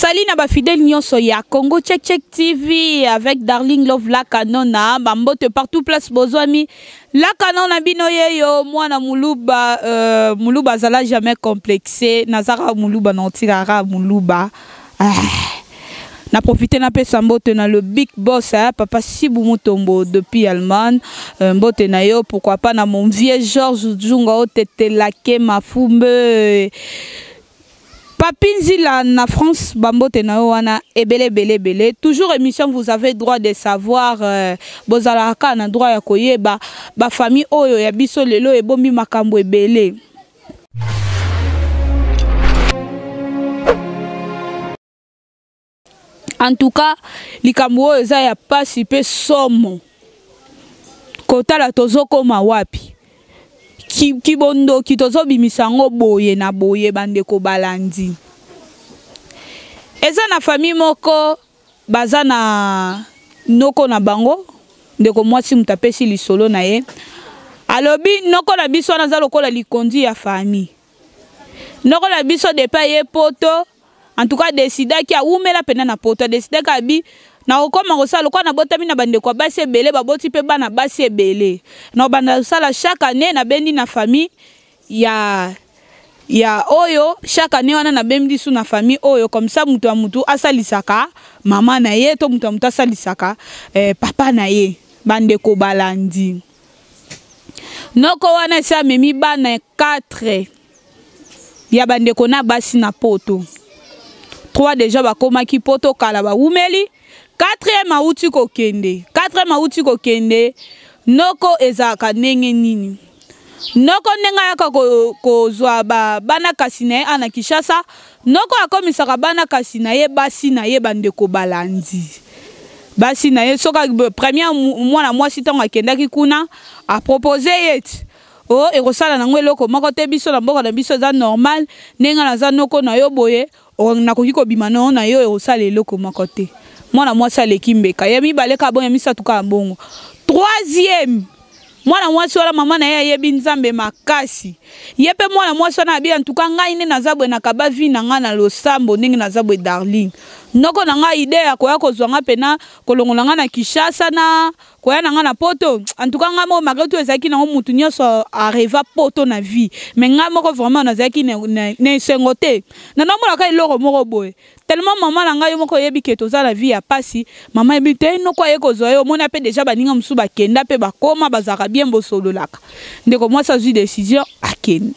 Salut na ba fidèles nyonso ya Congo Check Check TV avec Darling Love la Canona bambote partout place bozwami la Canona bino yeyo mwana muluba euh, muluba azala jamais complexé nazaka muluba na otirara muluba Ah. Na profite na pesa mbote na le big boss hein, papa Sibu Mutombo depuis Allemagne. Euh, mbote na yo pourquoi pas na mon vieux Georges Djunga otete lake mafumbe. Papi Nzila na France, Bambote na wana, ebele, bele, bele. Toujours émission, vous avez droit de savoir, euh, bozalaka na droit ya koyeba, ba famille oyo ya biso lelo ebombi makambo ebele. en tout cas likambo oyo eza ya mpasi mpe somo kotala tozokoma wapi kibondoki tozobimisa yango boye na boye bandeko balandi eza na famille moko baza na noko na bango ndeko mwasi moto apesi lisolo na ye alobi noko na biso wana aza lokola likonzi ya famille noko na biso depa ye poto en tout cas adesidaki awumela mpenza na poto adesidaki abi nakokoma kosala lokola nabotami na bandeko ya basi ebele baboti mpe bana basi ebele nakobanda kosala chaque année nabendi na famille ya ya oyo chaque année wana nabembi lisu na famille oyo comme ça moto ya moto asalisaka mama na ye to moto ya moto asalisaka eh, papa na ye bandeko balandi noko wana esi amemi bana 4 ya bandeko na basi na poto 3 deja bakomaki poto kala bawumeli 4e awuti kokende 4e awuti kokende noko ezalaka ndenge nini noko ndenge ayaka kozwa ko bana kasi na ye ana kinshasa noko akomisaka bana kasi na ye basi na ye bandeko balandi basi na ye soki première mwana mwasi ntango akendaki kuna apropose ye ete o oh, ekosala nango eloko moko te biso na mboka na biso eza normal ndenge naza noko na yo boye O, nakoki kobima na yo, na yo ekosala eloko moko te. Mwana mwasi aleki mbeka ya mibale kaka bongo, ya misato kaka bongo. Troisième, mwana mwasi wana mama na ye ayebi Nzambe makasi. Ye mpe mwana mwasi wana abi, en tout cas ngai nde naza boye, nakaba vie na ngai na losambo ndenge naza boye darling. Noko na ngai idee ya koya kozwa ngai mpe na kolongola ngai na Kinshasa na koya na ngai na poto en tout cas ngai moko malgré tout ezalaki nango motu nyonso areva poto na vie mais ngai moko vraiment nazalaki na esengo te na namonaka eloko moko boye tellement mama na ngai yo moko oyebi ke toza na vie ya pasi mama yebi te noko aye kozwa yo omona mpe deja baninga mosusu bakenda mpe bakoma bazalaka bien bosololaka ndeko mwasi azwi décision akende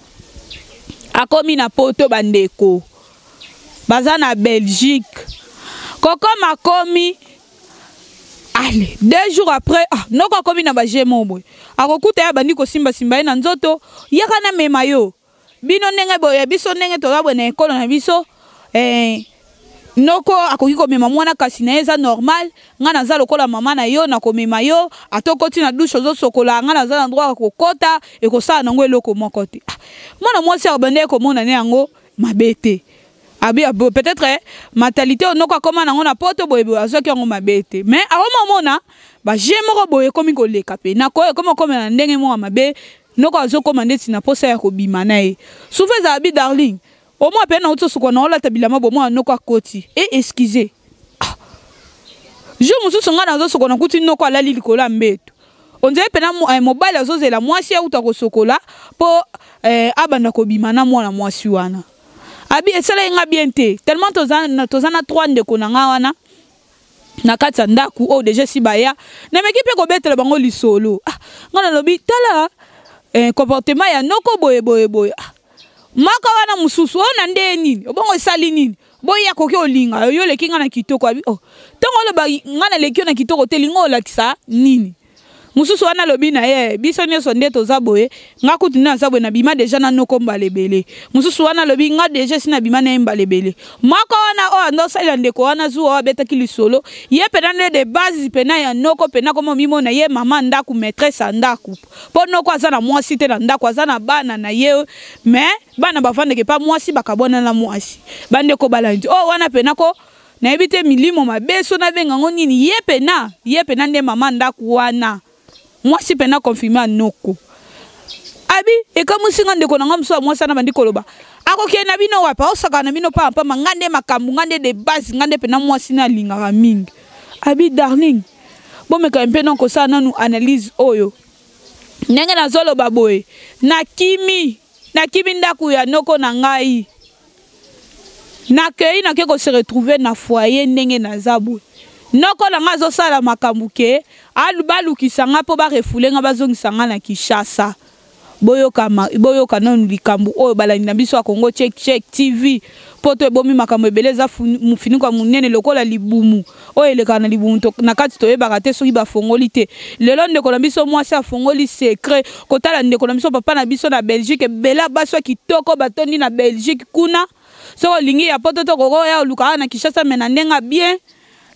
akomi na poto bandeko baza na belgique kokoma komi ale deux jours après ah, noko akomi na baje moko boye akokuta ye abandi kosimbasimba ye na nzoto yaka na mema yo bino ndenge boye biso ndenge toza boye na ekolo na biso eh, noko akoki komema mwana kasi na ye eza normal ngai naza lokola mama na yo nakomema yo ata okoti na dushe ozosokola ngai naza na droit ya kokota ekosala nango eloko moko te ah, mwana mwasi abandaki komona ne yango mabe te abi ah, ah, peut-être eh, mentalité oyo noko akoma nango na poto boye boye azwaki yango mabe te mais akoma omona baje moko boye ekomi koleka mpe nako ekomi okomela ndenge moko mabe noko azokoma ndeti na mposa ya kobima na ye souvent ezala bi darling omwa mpe nauti osukola na olata bilamba bomwana noko akoti e excuse ah. jour mosusu ngai nazosukola nakuti noko alali likolo ya mbeto on dirait pena eh, mobali azozela mwasi auta kosokola mpo eh, abanda kobima na mwana mwasi wana abi esalaki nga bien te tellement toza na, toza na trois ndeko na nga wana na kati ya ndako oyo oh, deja esi baya nameki mpe kobetela bango lisolo ah, nga nalobi tala eh, comportement ya noko boye boye boye ah, maka wana mosusu oyo oh, na ndeye nini obongo esali nini boye akoki olinga yo oleki ngai na kitoko abi oh. ntongo oloba ngai naleki yo na kitoko te linga olakisa nini mosusu wana alobi na ye biso nyonso nde toza boye ngai kutu nde naza boye nabima deja na noko mbala ebele mosusu wana alobi ngai deja esi nabima na ye mbala ebele moko wana oyo ando osalela ndeko wana zuwa oyo abetaki lisolo ye mpena nde de base mpena ya noko mpena koma omimona ye mama ndako maitrese ya ndako mpo noko aza na mwasi te na ndako aza na bana na ye mais bana bavandeke pa mwasi bakabwana na mwasi bandeko balandi oyo oh, wana pena ko nayebi te milimo mabe so nabenga yango nini ye pena ye pena nde mama ndako wana mwasi pena confirme anoko abi ekamwisi nga ndeko na nga mosusu ya mwasi wana bandi koloba akokende na bino wapi aosakana na bino pamba pamba nga nde makambo nga nde de base nga nde pena mwasi na alingaka mingi abi darling bomekami mpe na kosala nanu analyse oyo ndenge nazoloba boye nakimi Nakimi ndako ya noko na ngai. Nakei nake ko se retrouver na foyer ndenge naza boye. Noko na ngai azosala makambo ke balukisa ngai mpo barefoule ngai bazongisa ngai na Kinshasa. Boyoka, boyoka nanu likambo oyo balandi na biso ya Congo Check Check TV. poto ebomi makambo ebele eza mofiniko ya monene lokola libumu oyo elekaka na libumu na kati toyebaka te soki bafongoli te lelo ndeko na biso mwasi afongoli secret kotala ndeko na biso papa na biso na belgique ebele basi ya kitoko batondi na belgique kuna soki olingi ya poto tokokoya oluka awa na kinshasa me na ndenge bien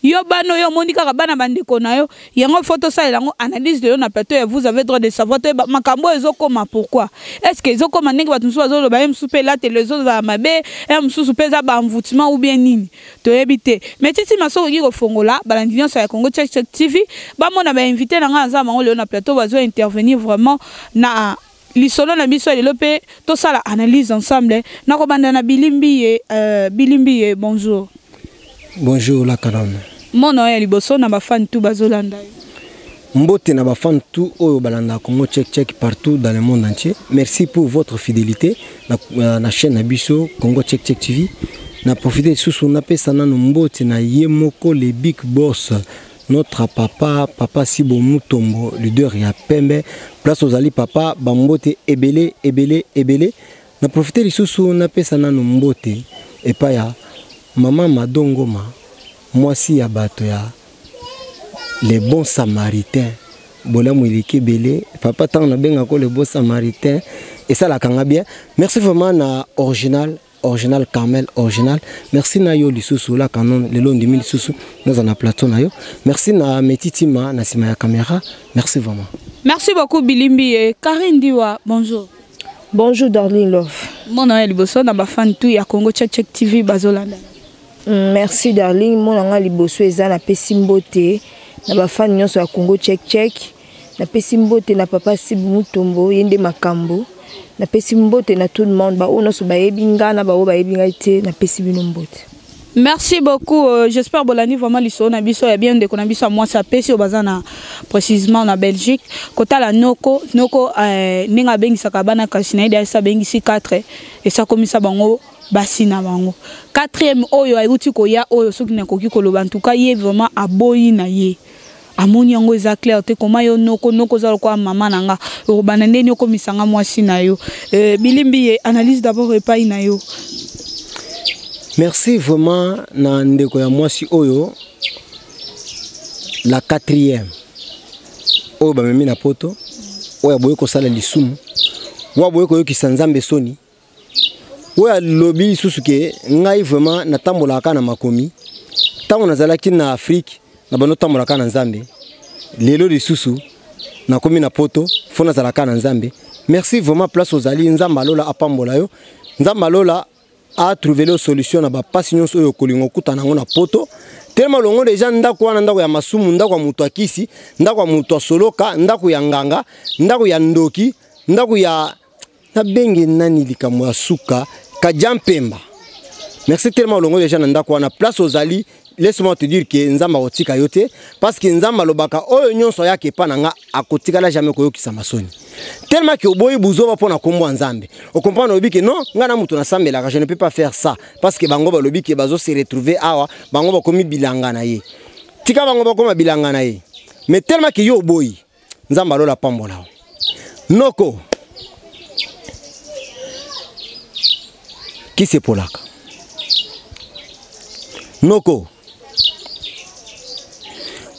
Yo bana oyo omoni kaka bana bandeko na yo yango faut tosalela yango analyse lelo na plateau ya vous avez droit de savoir toyeba makambo oyo ezokoma pourquoi est ce que ezokoma ndenge bato mosusu bazoloba ye mosusu mpe elateli ezozala mabe ya mosusu mpe eza baenvoutement ou bien nini toyebi te mais titi maso okoki kofongola balandi nyonso ya congo check check tv bamona bainvité na ngai aza bango lelo na plateau bazo intervenir vraiment na lisolo na biso lelo mpe tosala analyse ensemble nakobanda na bilimbiye euh, bilimbiye bonjour bonjour la kalame mona ya liboso na bafani tu bazolanda yo mbote na bafani tu oyo balandaka congo check check partout dans le monde entier merci pour votre fidélité na, euh, na chaîne na biso congo check check tv na profite lisusu napesa nano mbote na ye moko le big boss notre papa papa sibo mutombo leader ya pembe place ozali papa bambote ebele ebele ebele na profite lisusu napesa nano mbote epai ya mama madongoma mwasi ya bato ya le bon samaritain bolamu eleki ebele papa ntango nabengako le bon samaritain esalaka nga bien merci vraiment na original original Carmel original merci na yo lisusu la canon lelo ndimi lisusu naza na plateau na yo merci na metitima na sima ya camera merci vraiment merci beaucoup bilimbi et Karine Diwa bonjour bonjour darling love mona ya liboso na ba fan tout ya Congo check check TV bazolanda mm, merci darling mona nga liboso eza na pesi mbote na ba fan nyonso ya Congo check check napesi mbote na papa sibu mutombo ye nde makambo napesi mbote na tout le monde baoyo nyonso bayebi nga na baoyo bayebi ngai te napesi bino mbote merci beaucoup euh, j'espère bolandi vraiment lisolo na biso ya bien ndeko na biso ya mwasi apesi oyo baza na précisement na belgique kotala noko noko euh, ndenge abengisaka bana kasi na ye dayasi abengisi 4 esakomisa bango basi na bango quatrième oyo ayuti koya oyo soki nakoki koloba ntuka ye vraiment aboyi na ye amoni yango eza claire te koma yo noko noko oza lokola mama na nga okobanda ndeni okomisa nga mwasi na yo euh, bilimbi ye analyse d'abord epai na yo merci vraiment na ndeko ya mwasi oyo la quatrième oyo bamemi na poto oyo aboyi kosala lisumu oyo aboyi koyokisa nzambe soni oyo alobi lisusu ke ngai vraiment natambolaka kaka na makomi ntango nazalaki na afrike na bando otambola kaka na nzambe lelo lisusu nakomi na poto fo nazala kaka na nzambe merci vraiment place ozali nzambe alola apambola yo nzambe alola atrouve leo solution na bapasi nyonso oyo okolinga okutana yango na poto telema olongo deja ndako wana ndako ya masumu ndako ya moto ya kisi ndako ya moto ya soloka ndako ya nganga ndako ya ndoki ndako ya nabenge nani likambo ya suka kadia mpemba merci tellement olongo deja na ndako wana place ozali laisse-moi te dire que nzambe akotika yo te parce que nzambe alobaka oyo nyonso ayaka epa na nga akotikala jamais koyokisama soni tellement que oboyi buzoba mpo na nkombo ya nzambe okomprendre olobi ke non ngai na moto nasambelaka je ne peux pas faire ça parce que bango balobi ke bazo se retrouver awa bango bakomi bilanga na ye tika bango bakoma bilanga na ye mais tellement que yo oboyi nzambe alola apambola yo noko kisi epolaka noko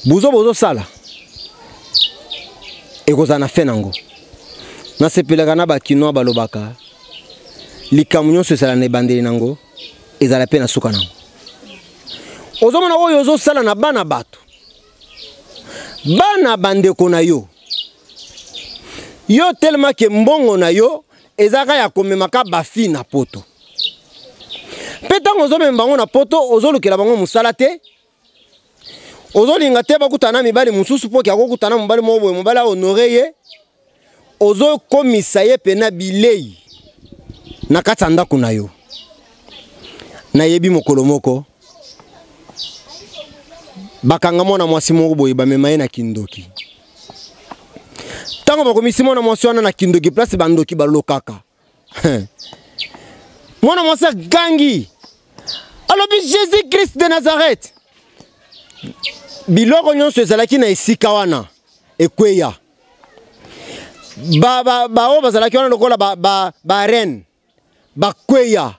buzo bozosala ekozala na fin nango nasepelaka na bakinois balobaka likambo nyonso ezala na ebandeli nango ezala mpe na suka nango ozomona oyo ozosala na bana bato bana bandeko na yo yo telema ke mbongo na yo ezalaka ya komemaka bafi na poto mpe ntango ozomema bango na poto ozolukela bango mosala te ozolinga te bakutana na mibali mosusu mpo ke akokutana mobali moko boye mobali ahonore ye ozokomisa ye mpena bilei na kati ya ndako na yo nayebi mokolo moko bakanga mwana mwasi moko boye bamema ye na kindoki ntango bakomisi mwana mwasi wana na kindoki place bandoki balokaka mwana mwasi agangi alobi jésus christ de nazareth biloko nyonso ezalaki na esika wana ekweya baoyo bazalaki wana lokola barene bakweya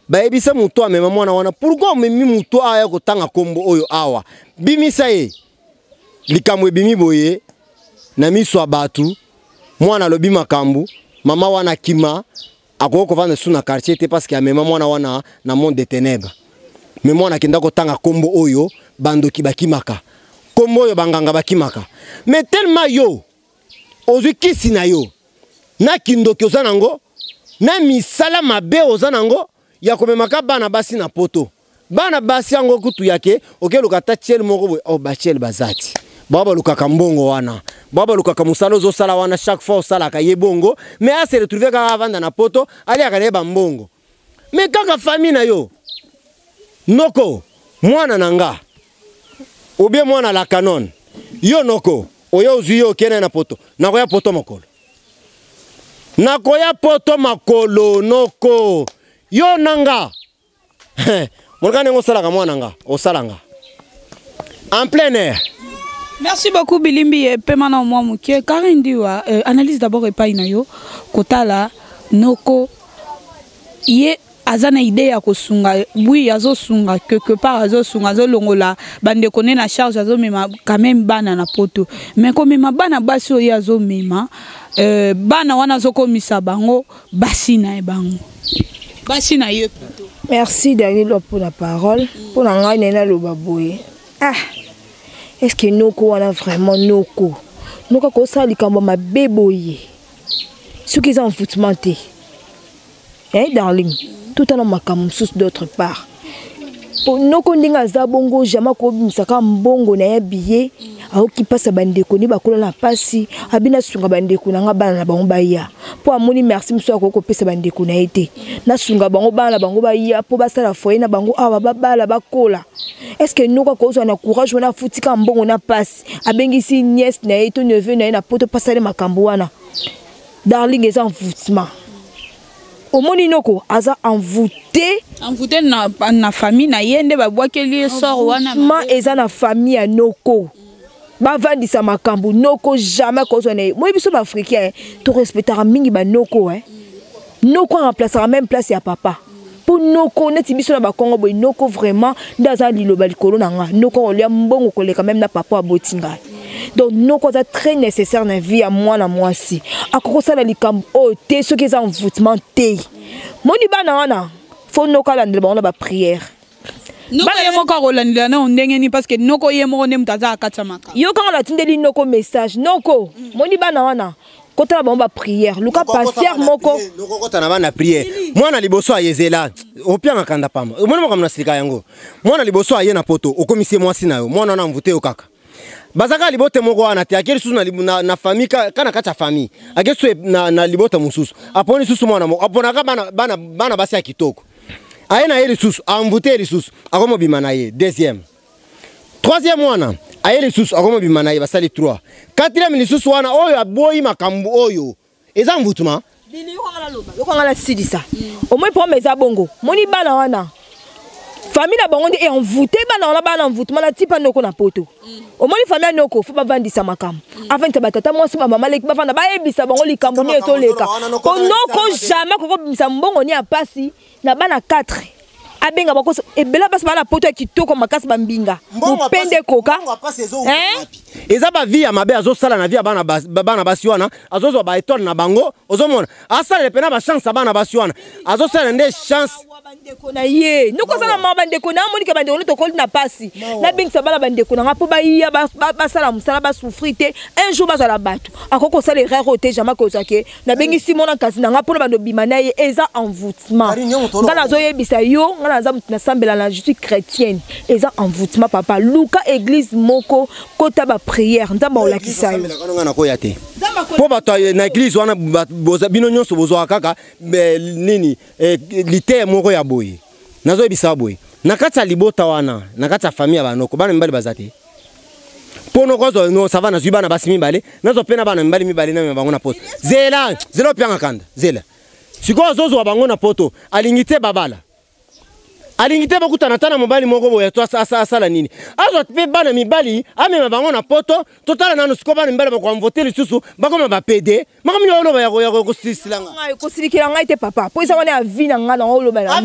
bayebisa moto amema mwana wana pourkui omemi moto aya kotanga nkombo oyo awa bimisa ye likambo ebimi boye na miso ya bato mwana alobi makambo mama wana akima akoki kovanda lisusu na quartier te parce que amema mwana wana na monde de ténèbres me mwana akenda kotanga nkombo oyo bandoki bakimaka nkombo oyo banganga bakimaka me telema yo ozwi kisi na yo na kindoki oza nango na misala mabe oza nango ya komemaka bana basi na poto bana basi yango kutu yake okeluka ata tiele moko boye o oh, batiele baza ti bao balukaka mbongo wana bao balukaka mosala ozosala wana chaque fois osalaka ye bongo mais ase retrouve kaka avanda na poto aliaka na ye bambongo mais kaka famille na yo noko mwana na nga obie mwana la canon yo noko oyo ozwi ye okende na poto nakoya poto mokolo nakoya poto makolo noko yo na nga monika ndenge osalaka mwana nga osala nga en plein air merci beaucoup bilimbi epema na mwa moke kari ndiwa euh, analyse d'abord epai na yo kotala noko ye aza na idee ya kosunga bwi azosunga quelque part azosunga azolongola bandeko ne na charge azomema quand même bana na poto mais komema bana basi oyo azomema euh, bana wana azokomisa bango basi na ye bango basi na yo plutôt merci darilo mpo na parole mpo na ngai naye naloba boye ah est ce que noko wana vraiment noko noko akosala likambo mabe boye soki eza envoûtement te eh darling totala makambo mosusu d'autre part po noko ndenge aza bongo jamais akobimisaka mbongo na ye biye aoki mpasi ya bandeko nde bakola na mpasi abi nasunga bandeko na ngai bana na bango baya mpo amoni merci mosusu akoki kopesa bandeko na ye te nasunga bango bana na bango baya mpo basala foye na bango awa babala bakola estce noko akozwa na courage wana afutika mbongo na mpasi abengisi niese na ye to neveu na ye na poto mpasali makambo wana darling eza envoutiment omoni noko aza envoute envoute na, na famille na ye nde babwakeli ye sor wana ma eza na famille ya noko bavandisa makambo noko jamais kozwa na ye moi biso baafricain torespectaka mingi banoko eh. noko aremplasaka même place ya papa mpo noko neti biso na bakongo boye noko vraiment nde aza liloba likolo na nga noko akolia mbongo koleka meme na papa aboti ngai donc noko aza très nécessaire na vie ya mwana mwasi akoki kosala likambo oyo te soki eza envoûtement te moni bana wana fo noko alandela bango na baprière bana ye moko akolandela nao ndenge nini parce que noko ye moko nde moto aza akatamaka yo kanga natindeli noko message noko moni bana wana kota na bango baprière luka pasteur moko nokokota na bana prière mwana liboso aye zela opianga kanda pamba omoni makambo na silika yango mwana liboso aye na poto okomisi ye mwasi na yo mwana wana mvute yo kaka baza kaka libota moko wana te ake lisusu na, na, na famille ka, ka na kati ya famille ake lisusu na, na libota mosusu aponi lisusu mwana moko aponaka bana, bana, bana basi ya kitoko aye na ye lisusu amvute ye lisusu akomobima na ye deuxième troisième wana aye lisusu akoma bima na ye basali 3 quatrième lisusu wana oyo aboyi makambo oyo eza mvutuma lokanga nasilisa omoi problème eza bongo moni bana wana famille na bango nde envoute bana wana bana envoutement na tipa noko na poto mm. omoni famille ya noko fo bavandisa makambo mm. avandisa batata mwasi bamama leki bavanda bayebisa bango likambo nini etoleka po noko jamais kokobimisa mbongo ni ya mpasi na bana 4 abenga bakoso ebela basi bana poto ya kitoko makasi bambinga mopende koka eh? eza bavie ya mabe azosala na vie ya bana basi wana azozwa baetoile na bango ozomona asalela mpena bachance ya bana basi wana azosalela nde chance bandeko na ye nokoza na mawa bandeko na amonike bandeko no tokoli na mpasi nabengisa bana bandeko na nga mpo baya basala mosala basouffri te un jour bazala bato akoki kosala erreur oyo te jamai kozwa ke nabengisi mwana nkasi na ngai mpo na bando bima na ye eza envoûtement ngai nazoyebisa yo ngai naza moto nasambela na je suis chrétienne eza envoûtement papa luka église moko kota baprière nzambe akolakisa yo nakoya te mpo bato na église wana bino nyonso bozwaka kaka eh, nini eh, liteye moko ya boye nazoyebisa boye na kati ya libota wana na kati ya famille ya banoko bana mibali baza te mpo nokozwa no sava nazwi bana basi mibale nazwa mpe na bana mibali mibale na bango na poto zela zela opianga kanda zela sikoyo azozwa bango na poto alingi te babala alingi te bakutana ata na mobali moko boye to asala nini azwa mpe bana mibali amema bango na poto totala nano sikoyo bana mibali bakoamvote lisusu bakoma bapede makambo ya oloba yako yako kosilisila nga kosilikela ngai te papa mpo eza wana ya vi na ngai na oloba na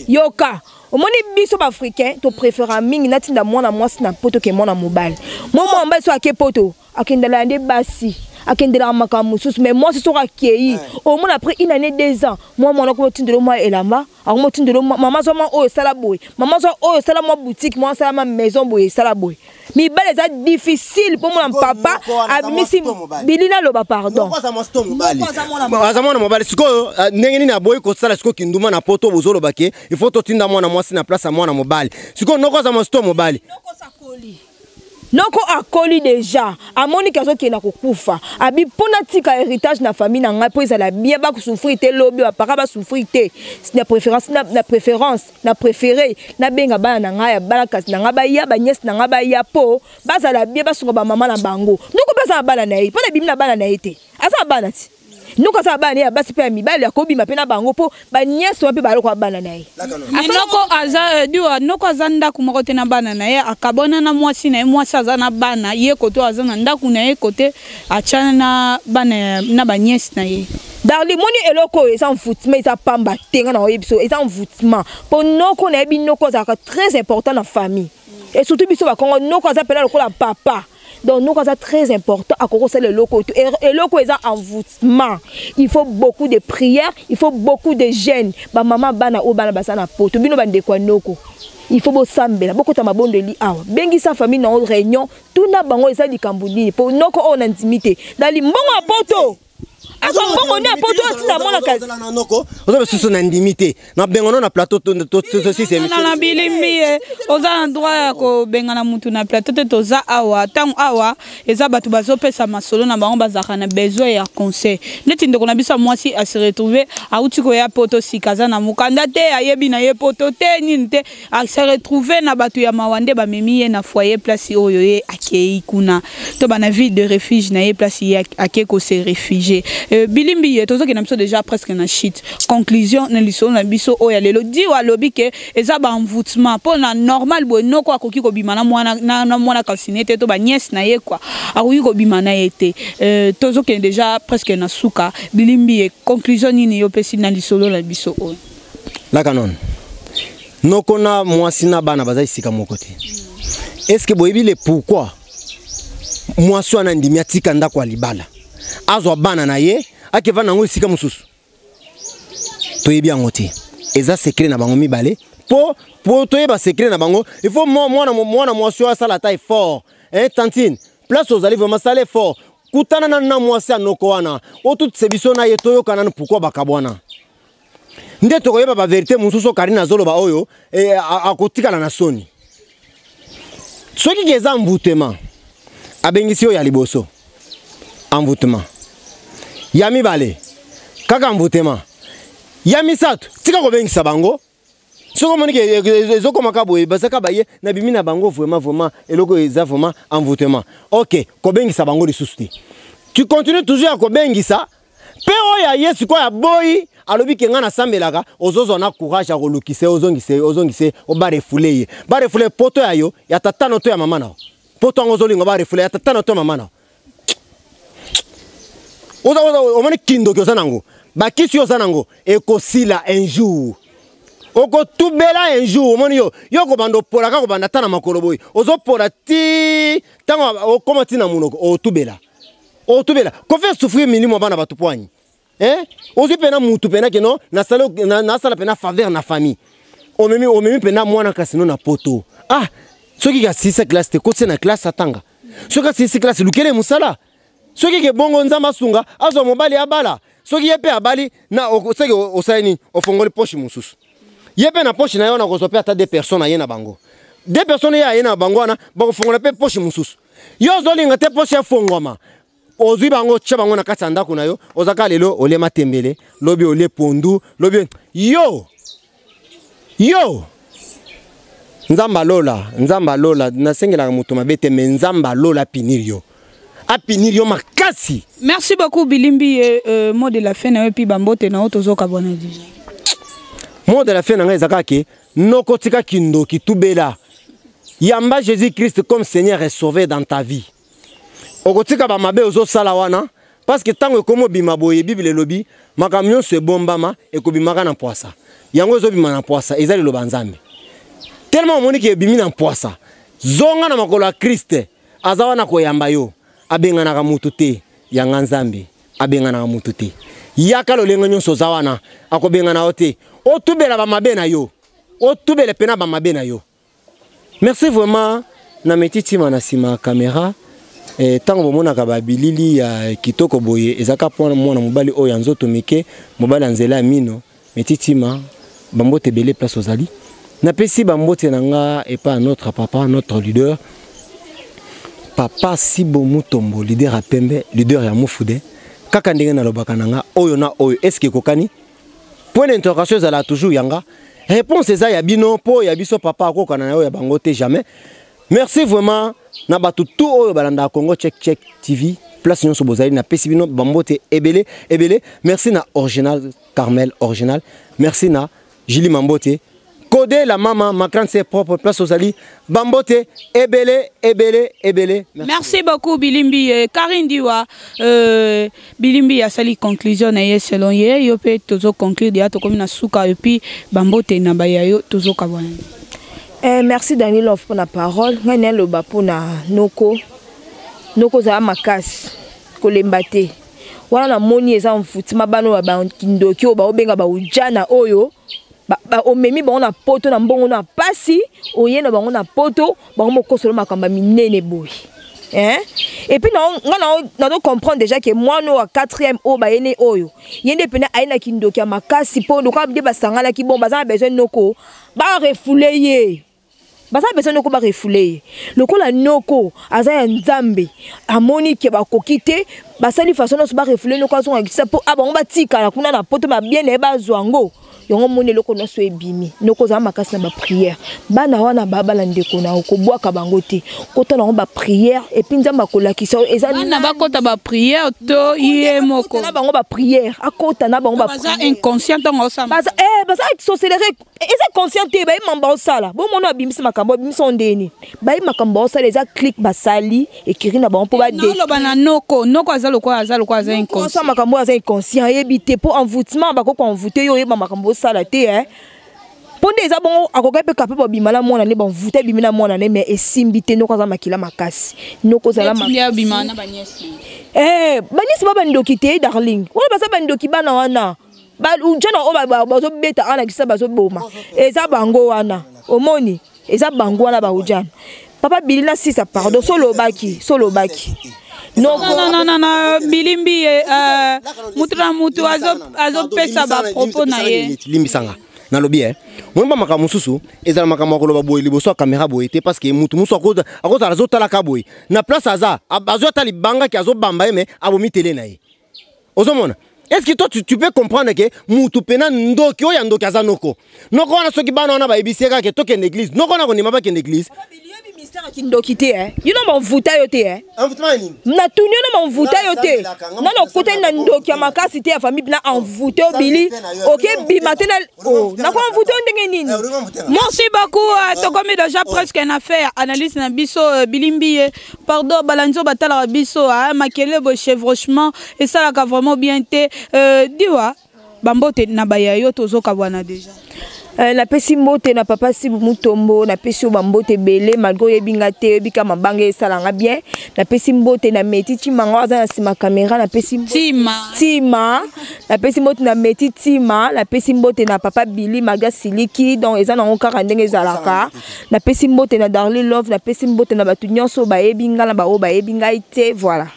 yoka omoni biso baafricain topréféra mingi natinda mwana mwasi na poto ke mwana mobali mo mwana mobali so ake poto akendela ya nde basi akendelaka makambo mosusu mais mwasi soki akei omona après une année deux ans mwa mwana kuna otindelo mwa elamba yango motindelo mama zwa mwa oyo esala boye mama zwa oyo esala mwa boutique mwa asala ma maison boye esala boye mibale eza difficile mpo mona papa abimisi bili naloba pardon aza mwana mobali sikoyo euh, ndenge nini aboyi kosala sikoyo kinduma na poto bozoloba ke il faut totinda mwana mwasi na place ya mwana mobali sikoyo noko aza mosto mobali noko akoli deja amoni ke azokenda kokufa abi mpo natika héritage na famille na ngai mpo ezala bien bakosouffrir te lobi bapaka basouffrir te na préférence na, na préférence na préféré nabenga bana na ngai ya bana kasi na ngai baya baniese na ngai baya mpo bazala bien basunga bamama na bango noko mpe aza na bana na ye mpo nabimi na bana na ye te aza na bana ti noko aza bana ne ya basi mpe ya mibali akobima mpe na bango mpo banyasi wana mpe baloko bana na ye noko aza euh, diwa noko aza ndako moko te na bana na ye akabona na mwasi na ye mwasi aza na bana ye koto aza na ndako na ye kote atyana na bana na banyesi na ye darli moni eloko oyo eza envoutiment eza pamba te nga na oyebi biso eza envoutiment mpo noko nayebi noko azalaka très important na famille et surtout biso bakongo noko aza mpela lokola papa donc noko aza très important akoki kosala eloko oyo er, eloko eza envoûtement il faut beaucoup de prière il faut beaucoup de jeune bamama bana oyo bana baza na poto bino bandeko ya noko il faut bosambela bokota mabondeli awa bengisa famille na yango réunion tuna bango eza likambo nini mpo noko oyo nandimi te na limbongo ya poto azwa mbongo nde apoto atinda mwana kasi oza basusu na ndimi te na bengono na plateau tosisana bilimbi ye oza na droit ya kobengana motu na plateau te toza awa ntango awa eza bato bazopesa masolo na bango bazalaka na besoin ya conseil neti ndeko na biso ya mwasi asiretrouve auti koya poto sika aza na mokanda te ayebi na ye poto te nini te a se retrouver na bato ya mawa nde bamemi ye na foyer place oyo ye akei kuna to bana ville de refuge na ye place ye akei ko se réfugier euh, bilimbi ye tozokenda biso déjà presque na chute conclusion na lisolo na biso oyo ya lelo dio alobi ke eza baenvoutement mpo na normal boye noko akoki kobima na mwana na, na mwana kalsine te to baniese na ye kua akoki kobima na ye te euh, tozokende déjà presque na suka bilimbi ye conclusion nini yo opesi na lisolo na biso oyo laka non noko na mwasi na bana baza esika moko te est ce que boyebi le pourquoi mwasi wana andimi atika ndako ya libala azwa bana na ye akeva na yango esika mosusu toyebi yango te eza sekre na bango mibale mpo mpo toyeba sekre na bango il faut mwana mwana mwasi oyo asala ata effort eh, tantine place ozali vraiment sala effort kutana nanu na mwasi ya noko wana otutise biso na ye toyokana nanu pourkui bakabwana nde tokoyeba baverité mosusu karine azoloba oyo e, akotikala na soni soki ke eza envoutema abengisi oyo ya liboso envoutema ya mibale kaka envoutema ya misato tika kobengisa bango soki omoni ke eh, eh, ezokoma ka boye bazaka baye nabimi na bango vraiment vraiment eloko eza vraiment envoûtement ok kobengisa bango lisusu te tu continue toujours ya kobengisa mpe oyo aye sikoyo aboyi alobi ke ngai nasambelaka ozozwa na courage ya kolukisa ye ozongisa ye ozongisa ye obarefule ye barefule poto ya yo ya tata na to ya mama na yo poto yango ozolinga barefule ya tata na to ya mama na yo oza oza omoni kindoki oza nango bakisi oza nango ekosila un jour okotubela un jour omoni yo yo okobanda opola kaka kobanda ata na makolo boye ozopola ti ntango okoma ti na monoko otubela otubela kofi esouffrir milimo bana bato poani eh ozwi mpena mutu mpena keno nasala mpena faveur na famille omemi omemi mpena mwana kasino na poto ah soki kasilisa classe te kotisa na classe atanga soki asilisi classe lukele mosala soki ke bongo nzambe asunga azwa mobali abala soki ye mpe abali na soki osali nini ofongoli poche mosusu ye mpe na poche na ye wana kozwa mpe ata de personne aye na bango de personne ye aye na bango wana bakofongola mpe poche mosusu yo ozolinga te poche efongwama ozwi bango otya bango na kati ya ndako na yo oza kaka lelo olie matembele lobi olie pondu lobi yo yo nzambe alola nzambe alola nasengelaka moto mabe te me nzambe alola apinir yo apinir yo makasi merci beaucoup bilimbi ye euh, mot de la fin na yo epuis bambote na yo tozokabwana deja mot de la fin na ngai eza kaka ke nokotika kindoki tubela yamba jésus christ comme seigneur et sauver dans ta vie okotika bamabe ozosala wana parceke ntango ekomi obima boye biblia elobi makambo nyonso ebombama ekobimaka na mpwasa yango ezobima na mpwasa eza liloba nzambe telema omoni ke ebimi na mpwasa zonga na makolo ya kriste aza wana koyamba yo abenganaka motu te yanga nzambe abenganaka motu te yaka lolenge nyonso oza wana akobengana yo te otubela bamabe na yo otubela mpe na bamabe na yo Merci vraiment na meti tima na sima ya camera eh, ntango bomonaka babilili ya kitoko boye ezalaka mpo mwana mobali oyo ya nzoto mike mobali ya nzela ya mino meti tima bambote ebele place ozali napesi bambote na nga epai ya notre papa notre leader papa sibo mutombo leader ya pembe leader ya mufude kaka ndenge nalobaka na nga oyo na oyo eske ekokani point d'interrogation ezalaka toujours yanga réponse eza ya bino mpo ya biso papa akokana na yo ya bango te jamais merci vraiment na bato tout oyo balandaka congo check check tv place nyonso bozali napesi bino bambote ebele ebele merci na original carmel original merci na julie mambote Code la maman, ma grande c'est propre, place aux alliés. Bambote, ebele, ebele, ebele. Merci, Merci beaucoup, Bilimbi. Euh, Karine Diwa, euh, Bilimbi a sali conclusion na ye selon ye. Yo pe tozo conclure dia to komina suka et puis Bambote na ba yo tozo kabwana. Eh, merci Daniel Love pour la parole. Nga ne loba pour na noko. Noko za makasi. Kolemba te. Wana na moni eza mfuti mabano ba kindoki oyo ba obenga ba ujana oyo. omemi bango na poto na mbongo na pasi oye na bango na poto bango mokosolo makambo ya minene boye Hein? Et puis, non, non, non, non, comprendre déjà que moi, nous, à quatrième, au baïné, oyo, yende pena, aïna kindoki, à ma casse, si pour nous, quand on dit, bah, sangana, qui bon, bah, ça a besoin de nos co, bah, refoulé, baza besoin noko barefule ye lokola noko aza ya nzambe amoni ke bakoki te basali façon nyonso barefule noko azonga kisa mpo a ah, bango batikala kuna na poto babie na ye bazwa yango yango omoni eloko nyonso ebimi noko ozala makasi na bapriere bana wana babala ndeko na yo kobwaka bango te kota na yango bapriere epuis nzambe akolakisa yo ezabana bakota bapriere to ye moko na bango bapriere akota na bango baza inconscient ntango osamba baza eh, sorcelere Eh, eza conscient te bayebi makambo baosala bomona babimisi makambo babimisi yango ndenge nini bayebi makambo baosala eza click basali ekiri na bango mpo badeloba na noko noko aza lokola aza lokola aza inconscient makambo oyo aza inconscient ayebi te mpo envoutement bakoki koenvoute yo oyeba makambo osala te e mpo nde eza bongo akokaki mpe kape babima na mwana ne banvute abimi na mwana ne mais esimbi te noko aza makila makasi noko ozala baniesi eh, ba bandoki te darling wana baza bandoki bana wana jona oyo bazobeta awa na kisa bazoboma eza bango wana omoni eza bango wana baujana papa bili na sisa pardon solobaki solobaki nonananana bilimbi ye eh, motu na motu azopesa bapropos na ye limbisanga nalobi e moyemba makambo mosusu ezala makambo ya koloba boye liboso ya kamera boye te parceke motu mosusu akozala azotalaka boye na place aza azwi ata libangaki azobamba ye me abomi tele na ye ozomona est ce que toi tu, tu peux comprendre ke mutu pena ndoki oyo ya ndoki aza noko noko wana soki bana wana bayebisi ye kaka ke tokende église noko wana kondima bakende église ministère kindoki te eh. yo noma ovuta yo te eh. natuni yo noma ovuta yo te nana okutani na ndoki ya makasi te ya famille na envoute obili okebima te Oh, nakomi mvuto ndenge nini eh, merci beaucoup euh, ah. tokomi deja oh. presque na fin ya analyse na biso euh, bilimbi ye pardon balandi oyo batalaka biso ah, makele boye chevrochement esalaka vraiment bien te euh, diwa bambote na baya yo tozokabwana deja Euh, napesi mbote na papa sibu mutombo napesi yo bambote ebele malgre oyebi nga te oyebi ka mabanga esala nga bien napesi mbote na meti timanga aza na nsima kamera napesi tima tima napesi mbote na meti tima napesi mbote na papa bili maga siliki donc eza nango kaka ndenge ezalaka napesi mbote na darli love napesi mbote na bato nyonso bayebi ngai na baoyo bayebi ngai te voilà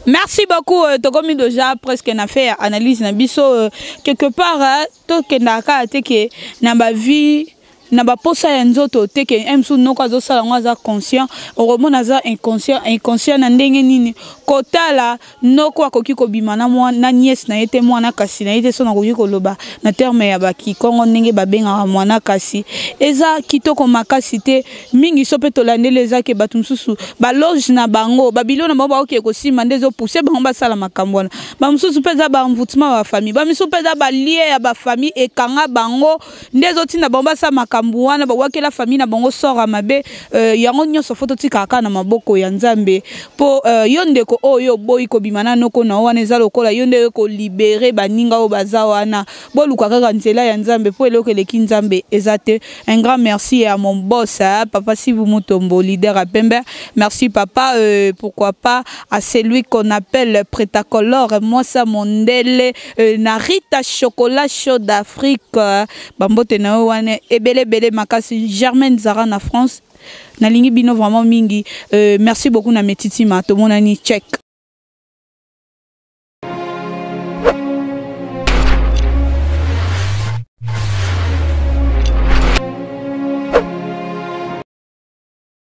merci beaucoup euh, tokomi déjà presque na fait analyse na biso euh, quelque part euh, tokendaka kaka te ke na bavie na baposa ya nzoto te ke eh, msu noko azosala yango aza conscient okomona aza inconscient inconscient na ndenge nini kotala noko akoki kobima na, mwa, na niese na ye te mwana kasi na ye te so nakoki koloba na terme ya bakikongo ndenge babengaka mwana kasi eza kitoko makasi te mingi so mpe tolandeli eza ke bato mosusu baloge na bango babilo na bango baokee kosimba nde ezopuse bango basala makambo wana bamosusu mpe eza baenvoutement ya bafamille bamisusu mpe eza balie ya bafamille ekanga bango nde ezotinda bango basala makambo wana bawakela famille na bango sort ya mabe euh, yango nyonso fo totikaka kaka na maboko ya nzambe mpo euh, yo ndeko oyo oboyi kobima na noko na yo wana eza lokola yo nde kolibere baninga oyo baza wana boluka kaka nzela ya nzambe mpo eloko eleki nzambe eza te un grand merci ya mon boss hein, papa sibu mutombo leader ya pembe merci papa euh, pourquoi pas à celui qu'on appelle pretacolore mwasa mondele Euh, na Rita Chocolat Chaud d'Afrique euh, bambote na yo wana ebele ebele makasi Germaine Zara na France nalingi bino vraiment mingi euh, merci beaucoup na metitima tomonani check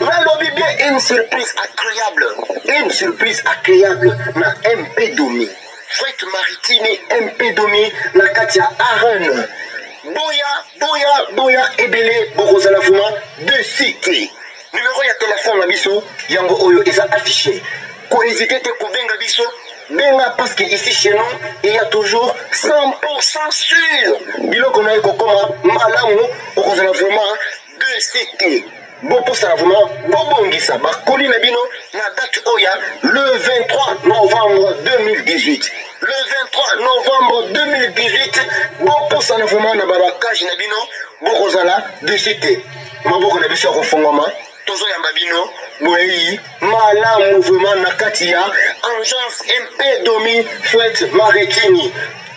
nalobi bien une surprise agréable une surprise agréable na mp domi fret maritime mp domi na kati ya arene boya boya boya ebele bokozala vraimen de cité Numero ya telephone na biso yango oyo eza affiche. Ko hésiter te kobenga biso benga parce que ici chez nous il y a toujours 100% sûr biloko na ye kokoma malamu okozala vraiment de cité bopusana vraiment bobongisa bakoli na bino na date oyo le 23 novembre 2018 le 23 novembre 2018 bopusana vraiment na babakage na bino bokozala desite Maboko na biso ya kofongwama tozoyamba bino boyeyi malamu vraiment na kati ya agence mp domi fwete marekini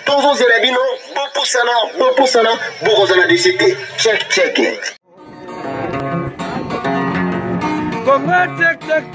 tozozela bino bopusana bopusana bokozala desi te check check Congo check check